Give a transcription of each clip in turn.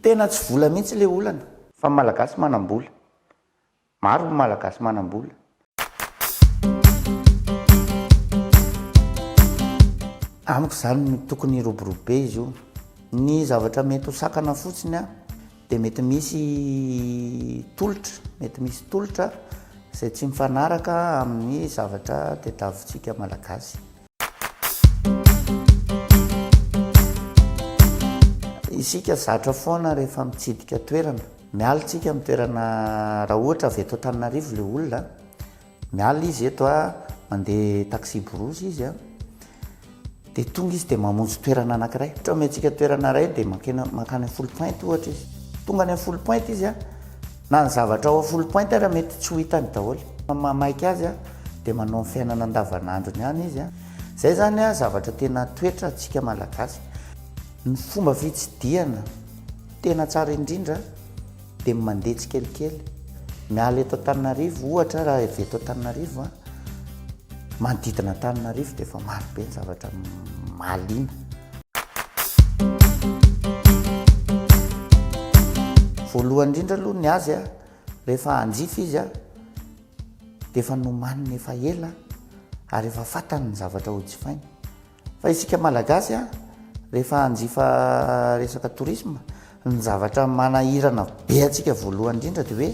Tena tsy vola mihitsy le olana. Fa ny malagasy manam-bola. Maro ny malagasy manam-bola. Amiko izany no tokony hiroborobe izy io. Ny zavatra mety ho sakana fotsiny an, dia mety misy tolotra, mety misy tolotra izay tsy mifanaraka amin'ny zavatra tadiavintsika malagasy. Isika zatra foana rehefa mitsidika toerana. Miala isika amin'ny toerana raha ohatra avy eto Antananarivo ilay olona, miala izy eto a, mandeha taxi-brousse izy a, dia tonga izy dia mamonjy toerana anankiray. Ohatra omentsika toerana iray dia mankeny mankany Foulpointe ohatra izy. Tonga any Foulpointe izy a, Na ny zavatra ao a full point ara mety tsy ho hitany daholo. Maha maika azy a, dia manao ny fiainana andavanandrony ihany izy a. Izay izany a zavatra tena toetra antsika malagasy. Ny fomba fitsidihana tena tsara indrindra dia ny mandeha tsikelikely. Miala eto Antananarivo ohatra raha avy eto Antananarivo a. Manodidina Antananarivo dia efa maro be ny zavatra mahaliana. Voalohany indrindra aloha ny azy a, rehefa hanjifa izy a, dia efa nomaniny efa ela ary efa fantany ny zavatra hojifainy. Fa isika Malagasy a, rehefa hanjifa resaka tourisme, ny zavatra manahirana be antsika voalohany indrindra dia hoe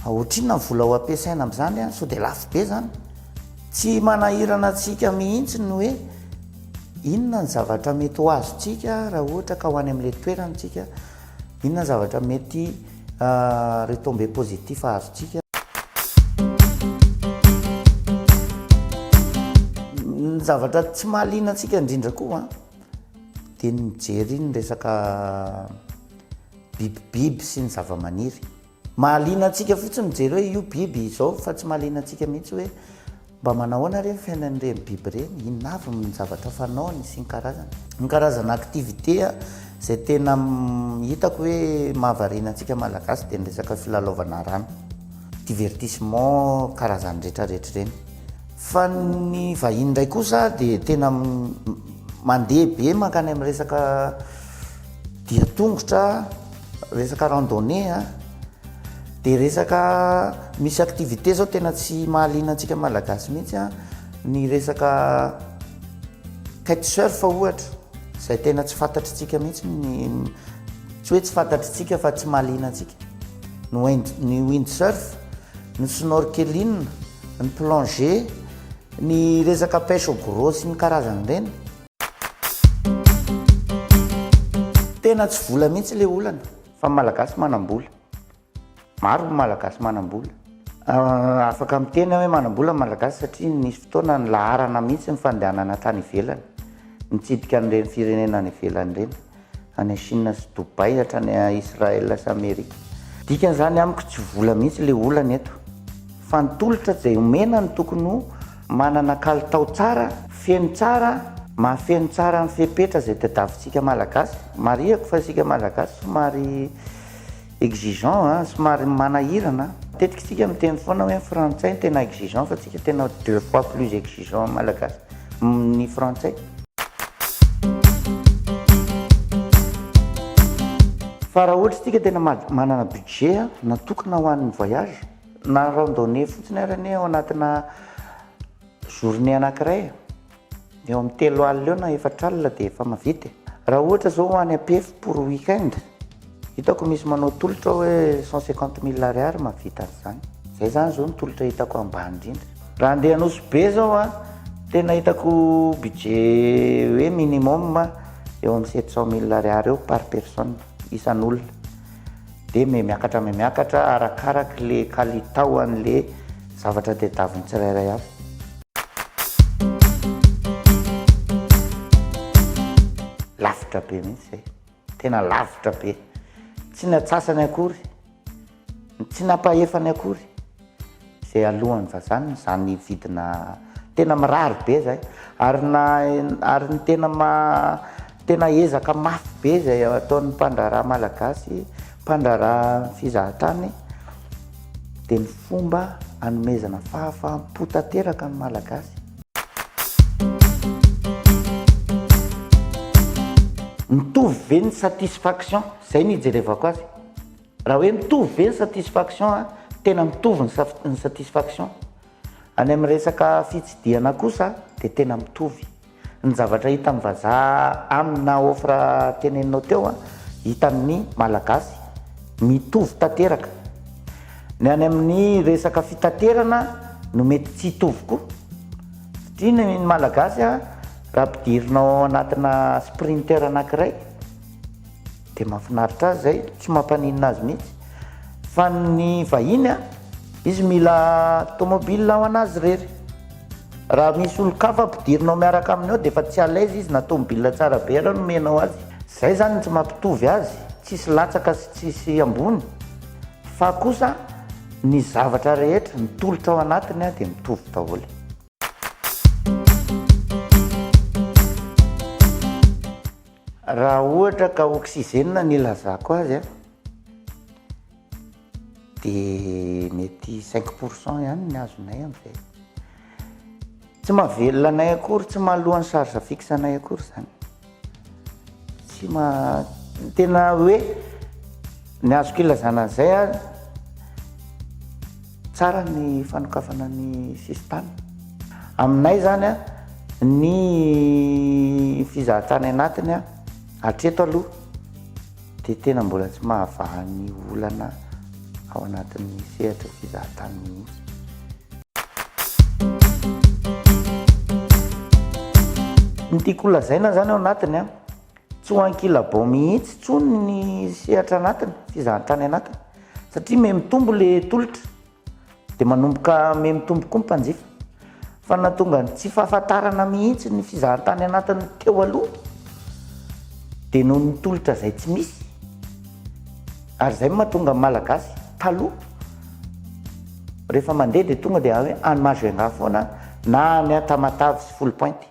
ohatrinona ny vola ho ampiasaina amin'izany a, sao dia lafo be izany? Tsy manahirana antsika mihitsy ny hoe inona ny zavatra mety ho azontsika raha ohatra ka ho any amin'ilay toerana isika, inona ny zavatra mety Retombées positifs azontsika. Ny zavatra tsy mahaliana antsika indrindra koa dia ny mijery ny resaka bibibiby sy ny zavamaniry. Mahaliana antsika fotsiny mijery hoe io biby izao fa tsy mahaliana antsika mihitsy hoe. Mba manao ahoana re ny fiainan'ireny biby ireny? Inona avy ny zavatra fanaony sy ny karazany? Ny karazana activité izay tena hitako hoe mahavariana antsika Malagasy dia ny resaka filalaovana rano, divertissement karazany retraretra ireny. Fa ny vahiny indray kosa dia tena mandeha be mankany amin'ny resaka. dia tongotra resaka randonnée a dia resaka misy activité zao tena tsy mahaliana antsika malagasy mihitsy a ny resaka kite surf ohatra izay tena tsy fantatritsika mihitsy ny tsy hoe tsy fantatritsika fa tsy mahaliana antsika ny wind ny wind surf ny snorkeling ny plongée ny resaka pêche au gros sy ny karazany ireny Tena tsy vola mihitsy le olana fa ny malagasy manam-bola. Maro ny malagasy manam-bola. Ah, afaka miteny aho hoe manam-bola ny malagasy satria nisy fotoana nilaharana mihitsy ny fandehanana tany ivelany, nitsidika an'ireny firenena any ivelany ireny. any Chine sy Dubai hatrany Israel sy Amerika. Dikany zany amiko tsy vola mihitsy le olana eto fa ny tolotra zay omena no tokony ho manana kalitao tsara, feno tsara, mahafeno tsara ny fepetra zay tadiavintsika malagasy, marihako fa isika malagasy somary. Exigeant a, somary manahirana a. Matetika tsika miteny foana hoe ny frantsay no tena exigeant fa tsika tena deux fois plus exigeant ny malagasy ny frantsay. Fa raha ohatra tsika tena manana budget a natokana ho an'ny voyage na randonnée fotsiny ary anie ao anatina journée anakiray Eo amin'ny telo alina eo na efatra alina dia efa mahavita e. Raha ohatra zao ho any Ampefy pour week-end, hitako misy manao tolotra hoe cent cinquante mille ariary mahavita an'izany. Izay zany zao ny tolotra hitako ambany indrindra. Raha andeha Nosy Be zao an, tena hitako budget hoe minimum eo amin'ny sept cent mille ariary eo par personne, isan'olona. Dia me miakatra me miakatra arakaraky le kalitao an'le zavatra tadiavin'ny tsirairay avy. Lavitra be mihitsy izay. Tena lavitra be. Tsy ny antsasany akory. Tsy ny ampahefany akory. Izay alohan'ny vazaha ny za nividina tena mirary be zay ary na ary ny tena maha tena ezaka mafy be zay ataon'ny mpandraharaha malagasy mpandraharaha fizahan-tany dia ny fomba anomezana fahafaham-po tanteraka ny malagasy. Mitovy ve ny satisfaction? Zay ny ijerevako azy. Raha hoe mitovy ve ny satisfaction a, tena mitovy ny saf, ny satisfaction. Any amin'ny resaka fitsidihana kosa dia tena mitovy. Ny zavatra hitan'ny vazaha aminy na offre teneninao teo a, hitan'ny Malagasy mitovy tanteraka. Ny any amin'ny resaka fitaterana no mety tsy hitovy koa. Satria ny Malagasy a, raha ampidirinao anatina Sprinter anankiray, Dia mahafinaritra azy izay, tsy mampaninona azy mihitsy. Fa ny vahiny an, izy mila tomobile ho an'azy irery. Raha misy olon-kafa ampidirinao miaraka aminy ao dia efa tsy à l'aise izy na tomobile tsara be ary nomenao azy. Izay izany no tsy mampitovy azy, tsisy latsaka sy tsisy ambony. Fa kosa ny zavatra rehetra, ny tolotra ao anatiny dia mitovy daholo. Raha ohatra ka oxygène no ilazako azy dia mety cinq pour cent ihany no azonay amin'izay. Tsy mahavelona anay akory, tsy mahaloa ny charge fixe anay akory izany. Tsy maha, tena hoe ny azoko ilazana an'izay an. Tsara ny fanokafana ny sisintany. Aminay izany ny fizahantany anatiny hatreto aloha dia tena mbola tsy mahavaha ny olana ao anatin'ny sehatra fizahantany mihitsy. Ny tiako holazaina izany ao anatiny Tsy ho ankilabao mihitsy intsony ny sehatra anatiny, fizahantany anatiny, satria miha mitombo ilay tolotra, dia manomboka miha mitombo koa ny mpanjifa. Fa nahatonga ny tsy fahafantarana mihitsy ny fizahantany anatiny teo aloha dia noho ny tolotra izay tsy misy, ary izay no mahatonga ny Malagasy taloha rehefa mandeha dia tonga dia any Majunga foana na any Tamatave sy Foulpointe.